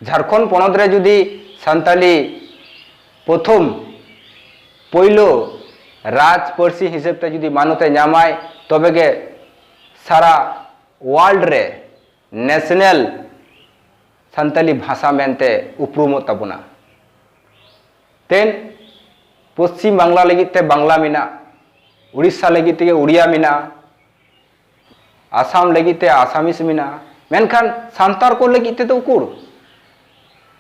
ᱡᱷᱟᱨᱠᱷᱚᱸᱰ ᱯᱚᱱᱚᱛ ᱨᱮ ᱡᱩᱫᱤ ᱥᱟᱱᱛᱟᱞᱤ ᱯᱨᱚᱛᱷᱚᱢ ᱯᱳᱭᱞᱳ ᱨᱟᱡᱽ ᱯᱟᱹᱨᱥᱤ ᱦᱤᱥᱟᱹᱵ ᱛᱮ ᱡᱩᱫᱤ ᱢᱟᱱᱚᱛᱮ ᱧᱟᱢᱟᱭ ᱛᱚᱵᱮ ᱜᱮ ᱥᱟᱨᱟ ᱣᱟᱨᱞᱰ ᱨᱮ ᱱᱮᱥᱱᱮᱞ ᱥᱟᱱᱛᱟᱞᱤ ᱵᱷᱟᱥᱟ ᱢᱮᱱᱛᱮ ᱩᱯᱨᱩᱢᱚᱜ ᱛᱟᱵᱚᱱᱟ ᱛᱮᱱ ᱯᱚᱥᱪᱤᱢ ᱵᱟᱝᱞᱟ ᱞᱟᱹᱜᱤᱫ ᱛᱮ ᱵᱟᱝᱞᱟ ᱢᱮᱱᱟᱜᱼᱟ ᱩᱲᱤᱥᱥᱟ ᱞᱟᱹᱜᱤᱫ ᱛᱮᱜᱮ ᱩᱲᱤᱭᱟ ᱢᱮᱱᱟᱜᱼᱟ ᱟᱥᱟᱢ ᱞᱟᱹᱜᱤᱫ ᱛᱮ ᱟᱥᱟᱢᱤᱥ ᱢᱮᱱᱟᱜᱼᱟ ᱢᱮᱱᱠᱷᱟᱱ ᱥᱟᱱᱛᱟᱲ ᱠᱚ ᱞᱟᱹᱜᱤᱫ ᱛᱮᱫᱚ ᱩᱠᱩᱨ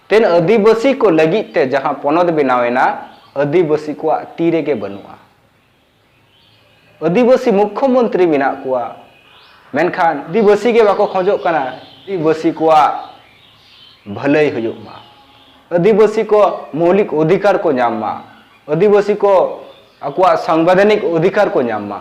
ᱛᱮᱱ ᱟᱹᱫᱤᱵᱟᱹᱥᱤ ᱠᱚ ᱞᱟᱹᱜᱤᱫ ᱛᱮ ᱡᱟᱦᱟᱸ ᱯᱚᱱᱚᱛ ᱵᱮᱱᱟᱣᱮᱱᱟ ᱟᱹᱫᱤᱵᱟᱹᱥᱤ ᱠᱚᱣᱟᱜ ᱛᱤ ᱨᱮᱜᱮ ᱵᱟᱹᱱᱩᱜᱼᱟ ᱟᱹᱫᱤᱵᱟᱹᱥᱤ ᱢᱩᱠᱷᱭᱚ ᱢᱚᱱᱛᱨᱤ ᱢᱮᱱᱟᱜ ᱠᱚᱣᱟ ᱢᱮᱱᱠᱷᱟᱱ ᱟᱹᱫᱤᱵᱟᱹᱥᱤ ᱜᱮ ᱵᱟᱠᱚ ᱠᱷᱚᱡᱚᱜ ᱠᱟᱱᱟ ᱟᱹᱫᱤᱵᱟᱹᱥᱤ ᱠᱚᱣᱟᱜ ᱵᱷᱟᱹᱞᱟᱹᱭ ᱦᱩᱭᱩᱜ ᱢᱟ ᱟᱹᱫᱤᱵᱟᱹᱥᱤ ᱠᱚ ᱢᱚᱣᱞᱤᱠ ᱚᱫᱷᱤᱠᱟᱨ ᱠᱚ ᱧᱟᱢ ᱢᱟ ᱟᱹᱫᱤᱵᱟᱹᱥᱤ ᱠᱚ ᱟᱠᱚᱣᱟᱜ ᱥᱟᱝᱵᱤᱫᱷᱟᱱᱤᱠ ᱚᱫᱷᱤᱠᱟᱨ ᱠᱚ ᱧᱟᱢ ᱢᱟ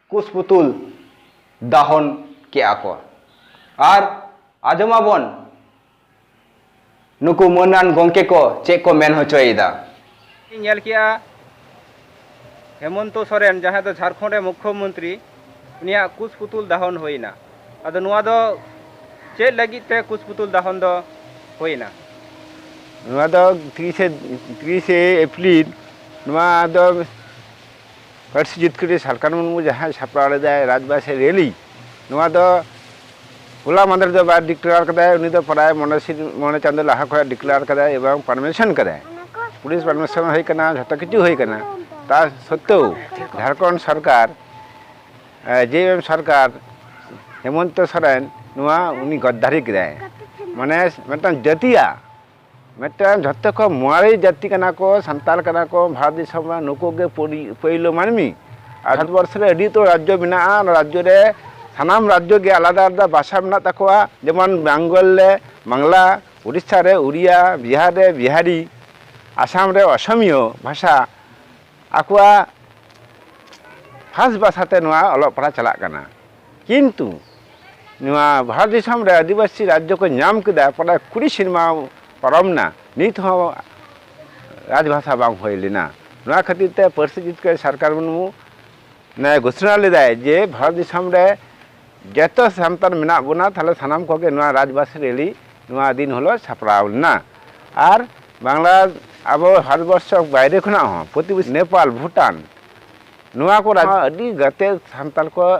ᱠᱩᱥᱯᱩᱛᱩᱞ ᱫᱟᱦᱚᱱ ᱠᱮᱫᱼᱟ ᱠᱚ ᱟᱨ ᱟᱸᱡᱚᱢ ᱟᱵᱚᱱ ᱱᱩᱠᱩ ᱢᱟᱹᱱᱟᱱ ᱜᱚᱢᱠᱮ ᱠᱚ ᱪᱮᱫ ᱠᱚ ᱢᱮᱱ ᱦᱚᱪᱚᱭᱮᱫᱟ᱾ ᱤᱧ ᱧᱮᱞ ᱠᱮᱫᱼᱟ ᱦᱮᱢᱚᱱᱛᱚ ᱥᱚᱨᱮᱱ ᱡᱟᱦᱟᱸᱭ ᱫᱚ ᱡᱷᱟᱨᱠᱷᱚᱸᱰ ᱨᱮ ᱢᱩᱠᱷᱭᱚ ᱢᱚᱱᱛᱨᱤ ᱩᱱᱤᱭᱟᱜ ᱠᱩᱥᱯᱩᱛᱩᱞ ᱫᱟᱦᱚᱱ ᱦᱩᱭ ᱮᱱᱟ ᱟᱫᱚ ᱱᱚᱣᱟ ᱫᱚ ᱪᱮᱫ ᱞᱟᱹᱜᱤᱫ ᱛᱮ ᱠᱩᱥᱯᱩᱛᱩᱞ ᱫᱟᱦᱚᱱ ᱫᱚ ᱦᱩᱭ ᱮᱱᱟ? ᱱᱚᱣᱟ ᱫᱚ ᱛᱤᱨᱤᱥᱮ ᱛᱤᱨᱤᱥᱮ ᱮᱯᱨᱤᱞ ᱱᱚᱣᱟ ᱫᱚ ᱯᱟᱹᱨᱥᱤ ᱡᱤᱛᱠᱟᱹᱨᱤ ᱥᱟᱞᱠᱷᱟᱱ ᱢᱩᱨᱢᱩ ᱡᱟᱦᱟᱸᱭ ᱥᱟᱯᱲᱟᱣ ᱞᱮᱫᱟᱭ ᱨᱟᱡᱽᱵᱟᱥᱤ ᱨᱮᱞᱤ ᱱᱚᱣᱟ ᱫᱚ ᱦᱚᱞᱟ ᱢᱟᱫᱷᱮᱨ ᱫᱚ ᱵᱟᱭ ᱰᱤᱠᱞᱮᱭᱟᱨ ᱠᱟᱫᱟᱭ ᱩᱱᱤ ᱫᱚ ᱯᱨᱟᱭ ᱢᱚᱬᱮ ᱢᱚᱬᱮ ᱪᱟᱸᱫᱚ ᱞᱟᱦᱟ ᱠᱷᱚᱱ ᱰᱤᱠᱞᱮᱭᱟᱨ ᱠᱟᱫᱟᱭ ᱮᱵᱚᱝ ᱯᱟᱨᱢᱤᱥᱚᱱ ᱠᱟᱫᱟᱭ ᱯᱩᱞᱤᱥ ᱯᱟᱨᱢᱤᱥᱚᱱ ᱦᱩᱭ ᱠᱟᱱᱟ ᱡᱷᱚᱛᱚ ᱠᱤᱪᱷᱩ ᱦᱩᱭ ᱠᱟᱱᱟ ᱛᱟ ᱥᱚᱛᱛᱮᱣ ᱡᱷᱟᱲᱠᱷᱚᱸᱰ ᱥᱚᱨᱠᱟᱨ ᱡᱮᱮᱢ ᱥᱚᱨᱠᱟᱨ ᱦᱮᱢᱚᱱᱛᱚ ᱥᱚᱨᱮᱱ ᱱᱚᱣᱟ ᱩᱱᱤ ᱜᱚᱫᱽᱫᱟᱨᱤ ᱠᱮᱫᱟᱭ ᱢᱟᱱᱮ ᱢᱤᱫᱴᱟᱝ ᱡᱟᱹᱛᱤᱭᱟᱜ ᱢᱤᱫᱴᱟᱝ ᱡᱷᱚᱛᱚ ᱠᱷᱚᱱ ᱢᱟᱨᱮ ᱡᱟᱹᱛᱤ ᱠᱟᱱᱟ ᱠᱚ ᱥᱟᱱᱛᱟᱲ ᱠᱟᱱᱟ ᱠᱚ ᱵᱷᱟᱨᱚᱛ ᱫᱤᱥᱚᱢ ᱨᱮ ᱱᱩᱠᱩ ᱜᱮ ᱯᱳᱭᱞᱳ ᱢᱟᱹᱱᱢᱤ ᱟᱨ ᱵᱷᱟᱨᱚᱛ ᱵᱚᱨᱥᱚ ᱨᱮ ᱟᱹᱰᱤ ᱩᱛᱟᱹᱨ ᱨᱟᱡᱽᱡᱚ ᱢᱮᱱᱟᱜᱼᱟ ᱚᱱᱟ ᱨᱟᱡᱽᱡᱚ ᱨᱮ ᱥᱟᱱᱟᱢ ᱨᱟᱡᱽᱡᱚ ᱜᱮ ᱟᱞᱟᱫᱟ ᱟᱞᱟᱫᱟ ᱵᱷᱟᱥᱟ ᱢᱮᱱᱟᱜ ᱛᱟᱠᱚᱣᱟ ᱡᱮᱢᱚᱱ ᱵᱮᱝᱜᱚᱞ ᱨᱮ ᱵᱟᱝᱞᱟ ᱳᱰᱤᱥᱟ ᱨᱮ ᱳᱰᱤᱭᱟ ᱵᱤᱦᱟᱨ ᱨᱮ ᱵᱤᱦᱟᱨᱤ ᱟᱥᱟᱢ ᱨᱮ ᱟᱥᱟᱢᱤᱭᱟᱹ ᱵᱷᱟᱥᱟ ᱟᱠᱚᱣᱟᱜ ᱠᱷᱟᱥ ᱵᱷᱟᱥᱟᱛᱮ ᱱᱚᱣᱟ ᱚᱞᱚᱜ ᱯᱟᱲᱦᱟᱜ ᱪᱟᱞᱟᱜ ᱠᱟᱱᱟ ᱠᱤᱱᱛᱩ ᱱᱚᱣᱟ ᱵᱷᱟᱨᱚᱛ ᱫᱤᱥᱚᱢ ᱨᱮ ᱟᱹᱫᱤᱵᱟᱹᱥᱤ ᱨᱟᱡᱽᱡᱚ ᱠᱚ ᱧᱟᱢ ᱠᱮᱫᱟ ᱯᱨᱟᱭ ᱠᱩᱲᱤ ᱥᱮᱨᱢᱟ ᱯᱟᱨᱚᱢᱱᱟ ᱱᱤᱛ ᱦᱚᱸ ᱨᱟᱡᱽ ᱵᱷᱟᱥᱟ ᱵᱟᱝ ᱦᱩᱭ ᱞᱮᱱᱟ ᱱᱚᱣᱟ ᱠᱷᱟᱹᱛᱤᱨ ᱛᱮ ᱯᱟᱹᱨᱥᱤ ᱡᱤᱛᱠᱟᱹᱨ ᱥᱟᱨᱠᱟᱨ ᱢᱩᱨᱢᱩ ᱱᱮ ᱜᱷᱳᱥᱳᱱᱟ ᱞᱮᱫᱟᱭ ᱡᱮ ᱵᱷᱟᱨᱚᱛ ᱫᱤᱥᱚᱢ ᱨᱮ ᱡᱚᱛᱚ ᱥᱟᱱᱛᱟᱲ ᱢᱮᱱᱟᱜ ᱵᱚᱱᱟ ᱛᱟᱦᱚᱞᱮ ᱥᱟᱱᱟᱢ ᱠᱚᱜᱮ ᱱᱚᱣᱟ ᱨᱟᱡᱽ ᱵᱷᱟᱥᱟ ᱨᱮᱞᱤ ᱱᱚᱣᱟ ᱫᱤᱱ ᱦᱤᱞᱳᱜ ᱥᱟᱯᱲᱟᱣ ᱞᱮᱱᱟ ᱟᱨ ᱵᱟᱝᱞᱟ ᱟᱵᱚ ᱵᱷᱟᱨᱚᱛ ᱵᱚᱨᱥᱚ ᱵᱟᱭᱨᱮ ᱠᱷᱚᱱᱟᱜ ᱦᱚᱸ ᱯᱨᱚᱛᱤᱵᱮᱥᱤ ᱱᱮᱯᱟᱞ ᱵᱷᱩᱴᱟᱱ ᱱᱚᱣᱟ ᱠᱚ ᱨᱟᱡᱽ ᱟᱹᱰᱤ ᱜᱟᱛᱮ ᱥᱟᱱᱛᱟᱲ ᱠᱚ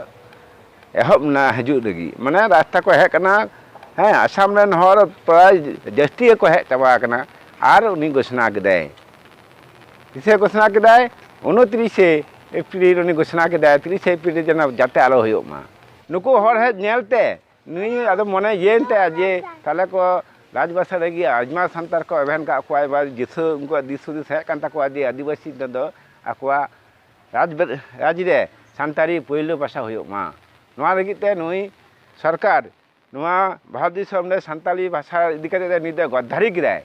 ᱮᱦᱚᱵ ᱮᱱᱟ ᱦᱤᱡᱩᱜ ᱞᱟᱹᱜᱤᱫ ᱢᱟᱱᱮ ᱨᱟᱥᱛᱟ ᱠᱚ ᱦᱮᱡ ᱠᱟᱱᱟ ᱦᱮᱸ ᱟᱥᱟᱢ ᱨᱮᱱ ᱦᱚᱲ ᱯᱨᱟᱭ ᱡᱟᱹᱥᱛᱤ ᱜᱮᱠᱚ ᱦᱮᱡ ᱪᱟᱵᱟ ᱟᱠᱟᱱᱟ ᱟᱨ ᱩᱱᱤ ᱜᱷᱳᱥᱱᱟ ᱠᱮᱫᱟᱭ ᱛᱤᱥᱮ ᱜᱷᱳᱥᱱᱟ ᱠᱮᱫᱟᱭ ᱩᱱᱛᱨᱤᱥᱮ ᱮᱯᱨᱤᱞ ᱩᱱᱤ ᱜᱷᱳᱥᱱᱟ ᱠᱮᱫᱟᱭ ᱛᱤᱨᱤᱥᱮ ᱮᱯᱨᱤᱞ ᱡᱮᱱᱚ ᱡᱟᱛᱮ ᱟᱞᱚ ᱦᱩᱭᱩᱜ ᱢᱟ ᱱᱩᱠᱩ ᱦᱚᱲ ᱦᱮᱡ ᱧᱮᱞᱛᱮ ᱱᱩᱭ ᱟᱫᱚ ᱢᱚᱱᱮ ᱤᱭᱟᱹᱭᱮᱱ ᱛᱟᱭᱟ ᱡᱮ ᱛᱟᱦᱚᱞᱮ ᱠᱚ ᱨᱟᱡᱽ ᱵᱟᱥᱟ ᱨᱮᱜᱮ ᱟᱭᱢᱟ ᱥᱟᱱᱛᱟᱲ ᱠᱚ ᱮᱵᱷᱮᱱ ᱠᱟᱜ ᱠᱚᱣᱟ ᱮᱵᱟᱨ ᱫᱤᱥᱟᱹ ᱩᱱᱠᱩᱣᱟᱜ ᱫᱤᱥ ᱦᱩᱫᱤᱥ ᱦᱮᱡ ᱠᱟᱱ ᱛᱟᱠᱚᱣᱟ ᱡᱮ ᱟᱹᱫᱤᱵᱟᱹᱥᱤ ᱛᱮᱫᱚ ᱟᱠᱚᱣᱟᱜ ᱨᱟᱡᱽ ᱨᱟᱡᱽ ᱨᱮ ᱥᱟᱱᱛᱟᱲᱤ ᱯᱳᱭᱞᱳ ᱵᱷᱟᱥᱟ ᱦᱩᱭᱩᱜ ᱢᱟ ᱱᱚᱣᱟ ᱞᱟᱹᱜᱤᱫ ᱛᱮ ᱱᱩᱭ ᱥᱚᱨᱠᱟᱨ ᱱᱚᱣᱟ ᱵᱷᱟᱨᱚᱛ ᱫᱤᱥᱚᱢ ᱨᱮ ᱥᱟᱱᱛᱟᱲᱤ ᱵᱷᱟᱥᱟ ᱤᱫᱤ ᱠᱟᱛᱮ ᱫᱚ ᱱᱩᱭ ᱫᱚ ᱜᱚᱫᱽᱫᱷᱟᱨᱤ ᱠᱮᱫᱟᱭ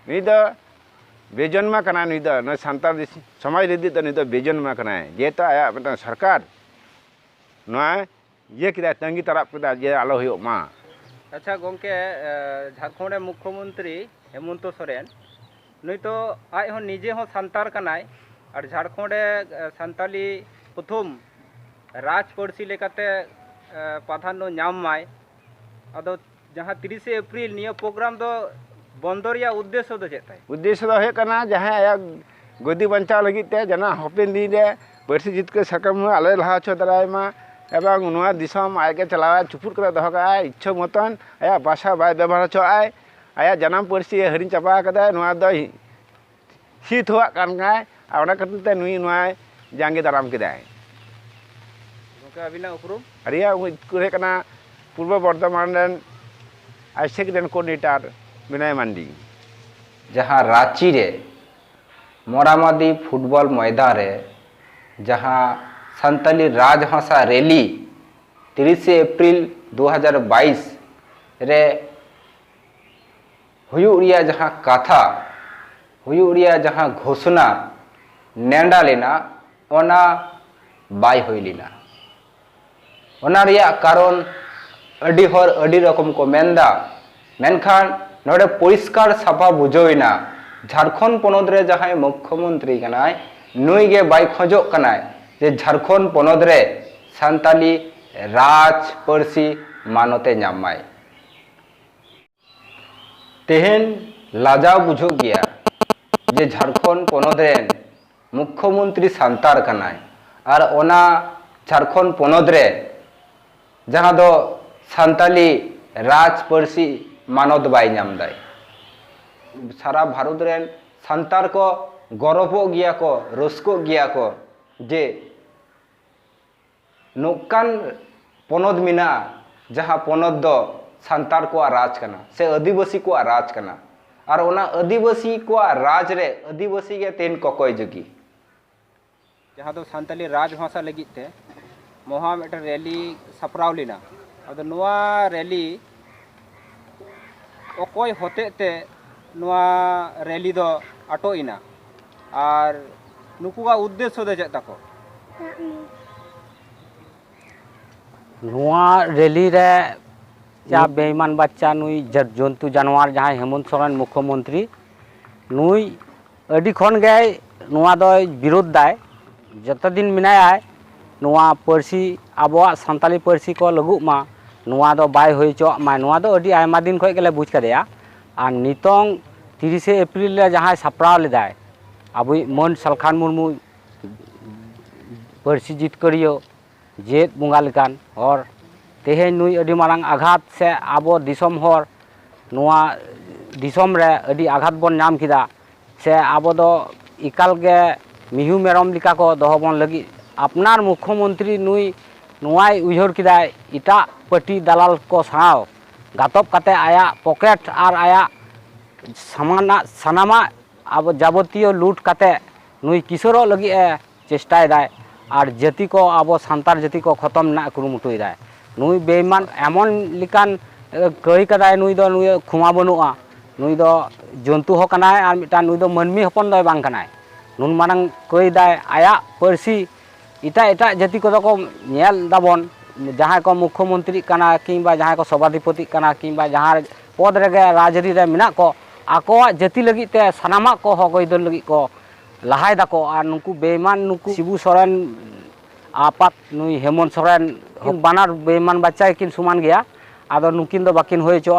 ᱱᱩᱭ ᱫᱚ ᱵᱮᱡᱚᱱᱢᱟ ᱠᱟᱱᱟᱭ ᱱᱩᱭ ᱫᱚ ᱱᱩᱭ ᱥᱟᱱᱛᱟᱲ ᱥᱚᱢᱟᱡᱽ ᱞᱟᱹᱜᱤᱫ ᱫᱚ ᱱᱩᱭ ᱫᱚ ᱵᱮᱡᱚᱱᱢᱟ ᱠᱟᱱᱟᱭ ᱡᱮᱦᱮᱛᱩ ᱟᱭᱟᱜ ᱢᱤᱫᱴᱟᱝ ᱥᱚᱨᱠᱟᱨ ᱱᱚᱣᱟ ᱤᱭᱟᱹ ᱠᱮᱫᱟᱭ ᱛᱟᱺᱜᱤ ᱛᱟᱨᱟᱵ ᱠᱮᱫᱟᱭ ᱡᱮ ᱟᱞᱚ ᱦᱩᱭᱩᱜ ᱢᱟ ᱟᱪᱪᱷᱟ ᱜᱚᱢᱠᱮ ᱡᱷᱟᱲᱠᱷᱚᱸᱰ ᱨᱮᱱ ᱢᱩᱠᱠᱷᱚ ᱢᱚᱱᱛᱨᱤ ᱦᱮᱢᱚᱱᱛᱚ ᱥᱚᱨᱮᱱ ᱱᱩᱭ ᱛᱚ ᱟᱡ ᱦᱚᱸ ᱱᱤᱡᱮ ᱦᱚᱸ ᱥᱟᱱᱛᱟᱲ ᱠᱟᱱᱟᱭ ᱟᱨ ᱡᱷᱟᱲᱠᱷᱚᱸᱰ ᱨᱮ ᱥᱟᱱᱛᱟᱞᱤ ᱯᱨᱚᱛᱷᱚᱢ ᱨᱟᱡᱽ ᱯᱟᱹᱨᱥᱤ ᱞᱮᱠᱟᱛᱮ ᱯᱨᱟᱫᱷᱟᱱᱱᱚ ᱧᱟᱢ ᱢᱟᱭ ᱟᱫᱚ ᱡᱟᱦᱟᱸ ᱛᱤᱨᱤᱥᱮ ᱮᱯᱨᱤᱞ ᱱᱤᱭᱟᱹ ᱯᱨᱳᱜᱨᱟᱢ ᱫᱚ ᱵᱚᱱᱫᱚ ᱨᱮᱭᱟᱜ ᱩᱫᱽᱫᱮᱥᱥᱚ ᱫᱚ ᱪᱮᱫ ᱛᱟᱭ ᱩᱫᱽᱫᱮᱥᱥᱚ ᱫᱚ ᱦᱩᱭᱩᱜ ᱠᱟᱱᱟ ᱡᱟᱦᱟᱸᱭ ᱟᱭᱟᱜ ᱜᱚᱫᱤ ᱵᱟᱧᱪᱟᱣ ᱞᱟᱹᱜᱤᱫ ᱛᱮ ᱡᱮᱱᱚ ᱦᱟᱯᱮᱱ ᱫᱤᱱ ᱨᱮ ᱯᱟᱹᱨᱥᱤ ᱡᱤᱛᱠᱟᱹᱨ ᱥᱟᱠᱟᱢ ᱦᱚᱸ ᱟᱞᱚᱭ ᱞᱟᱦᱟ ᱦᱚᱪᱚ ᱫᱟᱲᱮᱭᱟᱭ ᱢᱟ ᱮᱵᱚᱝ ᱱᱚᱣᱟ ᱫᱤᱥᱚᱢ ᱟᱡ ᱜᱮ ᱪᱟᱞᱟᱣᱟᱭ ᱪᱩᱯᱩᱫ ᱠᱟᱛᱮ ᱫᱚᱦᱚ ᱠᱟᱜ ᱟᱭ ᱤᱪᱪᱷᱟᱹ ᱢᱚᱛᱚᱱ ᱟᱭᱟᱜ ᱵᱷᱟᱥᱟ ᱵᱟᱭ ᱵᱮᱵᱚᱦᱟᱨ ᱦᱚᱪᱚᱣᱟᱜᱼᱟᱭ ᱟᱭᱟᱜ ᱡᱟᱱᱟᱢ ᱯᱟᱹᱨᱥᱤ ᱦᱤᱲᱤᱧ ᱪᱟᱵᱟ ᱠᱟᱫᱟᱭ ᱱᱚᱣᱟ ᱫᱚᱭ ᱥᱤᱫ ᱦᱚᱣᱟᱜ ᱠᱟᱱ ᱠᱟᱱᱟᱭ ᱟᱨ ᱚᱱᱟ ᱠᱷᱟᱹᱛᱤᱨ ᱛᱮ ᱱᱩᱭ ᱱᱚᱣᱟᱭ ᱡᱟᱸᱜᱮ ᱫᱟᱨᱟᱢ ᱠᱮᱫᱟᱭ ᱜᱚᱝᱠᱮ ᱟᱹᱵᱤᱱᱟᱜ ᱩᱯᱨᱩᱢ ᱟᱹᱞᱤᱧᱟᱜ ᱩᱯᱨᱩᱢ ᱦᱩᱭᱩᱜ ᱠᱟᱱᱟ ᱯᱩᱨᱵᱚ ᱵᱚᱨᱫᱷᱚᱢᱟᱱ ᱨᱮᱱ ᱟᱭᱥᱮᱠ ᱨᱮᱱ ᱠᱳᱰᱤᱱᱮᱴᱟᱨ ᱵᱤᱱᱚᱭ ᱢᱟᱱᱰᱤ ᱡᱟᱦᱟᱸ ᱨᱟᱺᱪᱤ ᱨᱮ ᱢᱚᱨᱟᱢᱟᱫᱤ ᱯᱷᱩᱴᱵᱚᱞ ᱢᱚᱭᱫᱟᱱ ᱨᱮ ᱡᱟᱦᱟᱸ ᱥᱟᱱᱛᱟᱞᱤ ᱨᱟᱡᱽᱵᱷᱟᱥᱟ ᱨᱮᱞᱤ ᱛᱤᱨᱤᱥᱮ ᱮᱯᱨᱤᱞ ᱫᱩ ᱦᱟᱡᱟᱨ ᱵᱟᱭᱤᱥ ᱨᱮ ᱦᱩᱭᱩᱜ ᱨᱮᱭᱟᱜ ᱡᱟᱦᱟᱸ ᱠᱟᱛᱷᱟ, ᱦᱩᱭᱩᱜ ᱨᱮᱭᱟᱜ ᱡᱟᱦᱟᱸ ᱜᱷᱳᱥᱱᱟ ᱱᱮᱸᱰᱟ ᱞᱮᱱᱟ ᱚᱱᱟ ᱵᱟᱭ ᱦᱩᱭ ᱞᱮᱱᱟ᱾ ᱚᱱᱟ ᱨᱮᱭᱟᱜ ᱠᱟᱨᱚᱱ ᱟᱹᱰᱤ ᱦᱚᱲ ᱟᱹᱰᱤ ᱨᱚᱠᱚᱢ ᱠᱚ ᱢᱮᱱ ᱮᱫᱟ᱾ ᱢᱮᱱᱠᱷᱟᱱ ᱱᱚᱰᱮ ᱯᱚᱨᱤᱥᱠᱟᱨ ᱥᱟᱯᱷᱟ ᱵᱩᱡᱷᱟᱹᱣ ᱮᱱᱟ ᱡᱷᱟᱨᱠᱷᱚᱸᱰ ᱯᱚᱱᱚᱛ ᱨᱮ ᱡᱟᱦᱟᱸᱭ ᱢᱩᱠᱷᱭᱚ ᱢᱚᱱᱛᱨᱤ ᱠᱟᱱᱟᱭ ᱱᱩᱭ ᱜᱮ ᱵᱟᱭ ᱠᱷᱚᱡᱚᱜ ᱠᱟᱱᱟᱭ ᱡᱮ ᱡᱷᱟᱨᱠᱷᱚᱸᱰ ᱯᱚᱱᱚᱛ ᱨᱮ ᱥᱟᱱᱛᱟᱞᱤ ᱨᱟᱡᱽ ᱯᱟᱹᱨᱥᱤ ᱢᱟᱱᱚᱛ ᱮ ᱧᱟᱢ ᱢᱟᱭ᱾ ᱛᱮᱦᱮᱧ ᱞᱟᱡᱟᱣ ᱵᱩᱡᱷᱟᱹᱜ ᱜᱮᱭᱟ ᱡᱮ ᱡᱷᱟᱨᱠᱷᱚᱸᱰ ᱯᱚᱱᱚᱛ ᱨᱮᱱ ᱢᱩᱠᱷᱭᱚ ᱢᱚᱱᱛᱨᱤ ᱥᱟᱱᱛᱟᱲ ᱠᱟᱱᱟᱭ ᱟᱨ ᱚᱱᱟ ᱡᱷᱟᱨᱠᱷᱚᱸᱰ ᱯᱚᱱᱚᱛ ᱨᱮ ᱡᱟᱦᱟᱸ ᱫᱚ ᱥᱟᱱᱛᱟᱞᱤ ᱨᱟᱡᱽ ᱯᱟᱹᱨᱥᱤ ᱢᱟᱱᱚᱛ ᱵᱟᱭ ᱧᱟᱢ ᱮᱫᱟᱭ ᱥᱟᱨᱟ ᱵᱷᱟᱨᱚᱛ ᱨᱮᱱ ᱥᱟᱱᱛᱟᱲ ᱠᱚ ᱜᱚᱨᱚᱵᱚᱜ ᱜᱮᱭᱟ ᱠᱚ ᱨᱟᱹᱥᱠᱟᱹᱜ ᱜᱮᱭᱟ ᱠᱚ ᱡᱮ ᱱᱚᱝᱠᱟᱱ ᱯᱚᱱᱚᱛ ᱢᱮᱱᱟᱜᱼᱟ ᱡᱟᱦᱟᱸ ᱯᱚᱱᱚᱛ ᱫᱚ ᱥᱟᱱᱛᱟᱲ ᱠᱚᱣᱟᱜ ᱨᱟᱡᱽ ᱠᱟᱱᱟ ᱥᱮ ᱟᱹᱫᱤᱵᱟᱹᱥᱤ ᱠᱚᱣᱟᱜ ᱨᱟᱡᱽ ᱠᱟᱱᱟ ᱟᱨ ᱚᱱᱟ ᱟᱹᱫᱤᱵᱟᱹᱥᱤ ᱠᱚᱣᱟᱜ ᱨᱟᱡᱽ ᱨᱮ ᱟᱹᱫᱤᱵᱟᱹᱥᱤ ᱜᱮ ᱛᱮᱦᱮᱧ ᱠᱚᱠᱚᱭ ᱡᱩᱜᱤ᱾ ᱡᱟᱦᱟᱸ ᱫᱚ ᱥᱟᱱᱛᱟᱲᱤ ᱨᱟᱡᱽ ᱵᱷᱟᱥᱟ ᱞᱟᱹᱜᱤᱫ ᱛᱮ ᱢᱚᱦᱟ ᱢᱤᱫᱴᱟᱝ ᱨᱮᱞᱤ ᱥᱟᱯᱲᱟᱣ ᱞᱮᱱᱟ ᱟᱫᱚ ᱱᱚᱣᱟ ᱨᱮᱞᱤ ᱚᱠᱚᱭ ᱦᱚᱛᱮᱡ ᱛᱮ ᱱᱚᱣᱟ ᱨᱮᱞᱤ ᱫᱚ ᱟᱴᱚᱜ ᱮᱱᱟ ᱟᱨ ᱱᱩᱠᱩᱣᱟᱜ ᱩᱫᱽᱫᱮᱥᱥᱚ ᱫᱚ ᱪᱮᱫ ᱛᱟᱠᱚ ᱱᱚᱣᱟ ᱨᱮᱞᱤ ᱨᱮ ᱡᱟ ᱵᱮᱭᱢᱟᱱ ᱵᱟᱪᱪᱟ ᱱᱩᱭ ᱡᱚᱱᱛᱩ ᱡᱟᱱᱣᱟᱨ ᱡᱟᱦᱟᱸᱭ ᱦᱮᱢᱚᱱᱛ ᱥᱚᱨᱮᱱ ᱢᱩᱠᱠᱷᱚ ᱢᱚᱱᱛᱨᱤ ᱱᱩᱭ ᱟᱹᱰᱤ ᱠᱷᱚᱱ ᱜᱮ ᱱᱚᱣᱟ ᱫᱚᱭ ᱵᱤᱨᱳᱫᱷ ᱫᱟᱭ ᱡᱚᱛᱚ ᱫᱤᱱ ᱢᱮᱱᱟᱭᱟᱭ ᱱᱚᱣᱟ ᱯᱟᱹᱨᱥᱤ ᱟᱵᱚᱣᱟᱜ ᱥᱟᱱᱛᱟᱲᱤ ᱯᱟᱹᱨᱥᱤ ᱠᱚ ᱞᱟᱹᱜᱩᱜ ᱢᱟ ᱱᱚᱣᱟ ᱫᱚ ᱵᱟᱭ ᱦᱩᱭ ᱦᱚᱪᱚᱣᱟᱜ ᱢᱟ ᱱᱚᱣᱟ ᱫᱚ ᱟᱹᱰᱤ ᱟᱭᱢᱟ ᱫᱤᱱ ᱠᱷᱚᱱ ᱜᱮᱞᱮ ᱵᱩᱡᱽ ᱠᱟᱫᱮᱭᱟ ᱟᱨ ᱱᱤᱛᱚᱝ ᱛᱤᱨᱤᱥᱮ ᱮᱯᱨᱤᱞ ᱨᱮ ᱡᱟᱦᱟᱸᱭ ᱥᱟᱯᱲᱟᱣ ᱞᱮᱫᱟᱭ ᱟᱵᱚᱭᱤᱡ ᱢᱟᱹᱱ ᱥᱟᱞᱠᱷᱟᱱ ᱢᱩᱨᱢᱩ ᱯᱟᱹᱨᱥᱤ ᱡᱤᱛᱠᱟᱹᱨᱤᱭᱟᱹ ᱡᱮᱭᱮᱫ ᱵᱚᱸᱜᱟ ᱞᱮᱠᱟᱱ ᱦᱚᱲ ᱛᱮᱦᱮᱧ ᱱᱩᱭ ᱟᱹᱰᱤ ᱢᱟᱨᱟᱝ ᱟᱜᱷᱟᱛ ᱥᱮ ᱟᱵᱚ ᱫᱤᱥᱚᱢ ᱦᱚᱲ ᱱᱚᱣᱟ ᱫᱤᱥᱚᱢ ᱨᱮ ᱟᱹᱰᱤ ᱟᱜᱷᱟᱛ ᱵᱚᱱ ᱧᱟᱢ ᱠᱮᱫᱟ ᱥᱮ ᱟᱵᱚ ᱫᱚ ᱮᱠᱟᱞ ᱜᱮ ᱢᱤᱦᱩ ᱢᱮᱨᱚᱢ ᱞᱮᱠᱟ ᱠᱚ ᱫᱚᱦᱚ ᱵᱚᱱ ᱞᱟᱹᱜᱤᱫ ᱟᱯᱱᱟᱨ ᱢᱩᱠᱠᱷᱚ ᱢᱚᱱᱛᱨᱤ ᱱᱩᱭ ᱱᱚᱣᱟᱭ ᱩᱭᱦᱟᱹᱨ ᱠᱮᱫᱟ ᱮᱴᱟᱜ ᱯᱟᱹᱴᱤ ᱫᱟᱞᱟᱞ ᱠᱚ ᱥᱟᱶ ᱜᱟᱛᱚᱠ ᱠᱟᱛᱮ ᱟᱭᱟᱜ ᱯᱚᱠᱮᱴ ᱟᱨ ᱟᱭᱟᱜ ᱥᱟᱢᱟᱱᱟᱜ ᱥᱟᱱᱟᱢᱟᱜ ᱟᱵᱚ ᱡᱟᱵᱚᱛᱤᱭᱚ ᱞᱩᱴ ᱠᱟᱛᱮ ᱱᱩᱭ ᱠᱤᱥᱟᱹᱬᱚᱜ ᱞᱟᱹᱜᱤᱫ ᱮ ᱪᱮᱥᱴᱟ ᱮᱫᱟᱭ ᱟᱨ ᱡᱟᱹᱛᱤ ᱠᱚ ᱟᱵᱚ ᱥᱟᱱᱛᱟᱲ ᱡᱟᱹᱛᱤ ᱠᱚ ᱠᱷᱚᱛᱚᱢ ᱨᱮᱱᱟᱜ ᱠᱩᱨᱩᱢᱩᱴᱩ ᱮᱫᱟᱭ ᱱᱩᱭ ᱵᱮᱭᱢᱟᱱ ᱮᱢᱚᱱ ᱞᱮᱠᱟᱱ ᱠᱟᱹᱭ ᱠᱟᱫᱟᱭ ᱱᱩᱭ ᱫᱚ ᱱᱩᱭ ᱠᱷᱚᱢᱟ ᱵᱟᱹᱱᱩᱜᱼᱟ ᱱᱩᱭ ᱫᱚ ᱡᱚᱱᱛᱩ ᱦᱚᱸ ᱠᱟᱱᱟᱭ ᱟᱨ ᱢᱤᱫᱴᱟᱝ ᱱᱩᱭ ᱫᱚ ᱢᱟᱹᱱᱢᱤ ᱦᱚᱯᱚᱱ ᱫᱚᱭ ᱵᱟᱝ ᱠᱟᱱᱟᱭ ᱱᱩᱱ ᱢᱟᱨᱟᱝ ᱠᱟᱹᱭ ᱫᱟᱭ ᱟᱭᱟᱜ ᱯᱟᱹᱨᱥᱤ ᱮᱴᱟᱜ ᱮᱴᱟᱜ ᱡᱟᱹᱛᱤ ᱠᱚᱫᱚ ᱠᱚ ᱧᱮᱞ ᱫᱟᱵᱚᱱ ᱡᱟᱦᱟᱸᱭ ᱠᱚ ᱢᱩᱠᱷᱚ ᱢᱚᱱᱛᱨᱤᱜ ᱠᱟᱱᱟ ᱠᱤᱝᱵᱟ ᱡᱟᱦᱟᱸᱭ ᱠᱚ ᱥᱚᱵᱷᱟᱫᱷᱤᱯᱚᱛᱤᱜ ᱠᱟᱱᱟ ᱠᱤᱝᱵᱟ ᱡᱟᱦᱟᱸ ᱯᱚᱫᱽ ᱨᱮᱜᱮ ᱨᱟᱡᱽ ᱟᱹᱨᱤ ᱨᱮ ᱢᱮᱱᱟᱜ ᱠᱚ ᱟᱠᱚᱣᱟᱜ ᱡᱟᱹᱛᱤ ᱞᱟᱹᱜᱤᱫ ᱛᱮ ᱥᱟᱱᱟᱢᱟᱜ ᱠᱚ ᱦᱚᱠ ᱟᱹᱭᱫᱟᱹᱨ ᱞᱟᱹᱜᱤᱫ ᱠᱚ ᱞᱟᱦᱟᱭ ᱫᱟᱠᱚ ᱟᱨ ᱱᱩᱠᱩ ᱵᱮᱭᱢᱟᱱ ᱱᱩᱠᱩ ᱥᱤᱵᱩ ᱥᱚᱨᱮᱱ ᱟᱯᱟᱛ ᱱᱩᱭ ᱦᱮᱢᱚᱱ ᱥᱚᱨᱮᱱ ᱵᱟᱱᱟᱨ ᱵᱮᱭᱢᱟᱱ ᱵᱟᱪᱪᱟ ᱜᱮᱠᱤᱱ ᱥᱚᱢᱟᱱ ᱜᱮᱭᱟ ᱟᱫᱚ ᱱᱩᱠᱤᱱ ᱫᱚ ᱵᱟᱠᱤᱱ ᱦᱩᱭ ᱦᱚᱪᱚᱣᱟᱜᱼᱟ